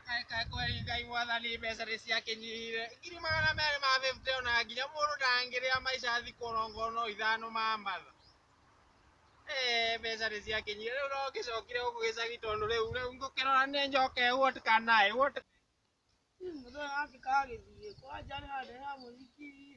Reka kweri Ngai mwathani mbeca nĩ ciakĩnyihire. Ngiri magana merĩ ma bĩbute ona nginya mũndũ ndangĩrĩa maica thikũ ona ongorwo no ithano mamatha. Eeh mbeca nĩ ciakĩnyihire rĩu no ngĩcokire gũkũ gĩcagi tondũ rĩu rĩu ngũkĩrora nĩ njoke what can I what can I. Mũthee gakĩ kagĩthiĩ kwanja nĩ handũ he ha mũthikii.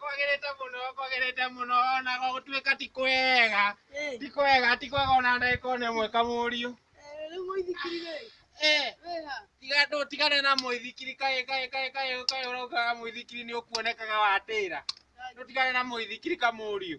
kwagĩrĩte mũno kwagĩrĩte mũno ona gũtuĩka ti kwega ti kwega ti kwega ona ndagĩka ona ĩmwe kamũriũ tigane na mũithikiri kaĩ kaĩ kaĩ kaĩ kaĩ ũraugaga mũithikiri nĩ ũkuonekaga watĩra tũtigane na mũithikiri kamũriũ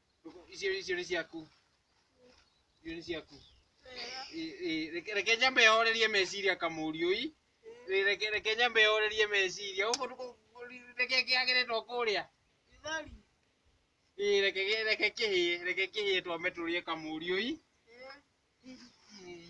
Rũkũ, icio icio nĩ ciaku icio nĩ ciaku Ĩ- ĩ, reke- reke nyambe horerie meciria kamũriũi Ĩ, reke- reke nyambe horerie meciria Gũkũ ndũkũ- ndũ- reke kĩagĩrĩtwo kũrĩa Githeri. Ĩ, reke reke kĩhĩe reke kĩhĩe twambe tũrĩe kamũriũi Eh.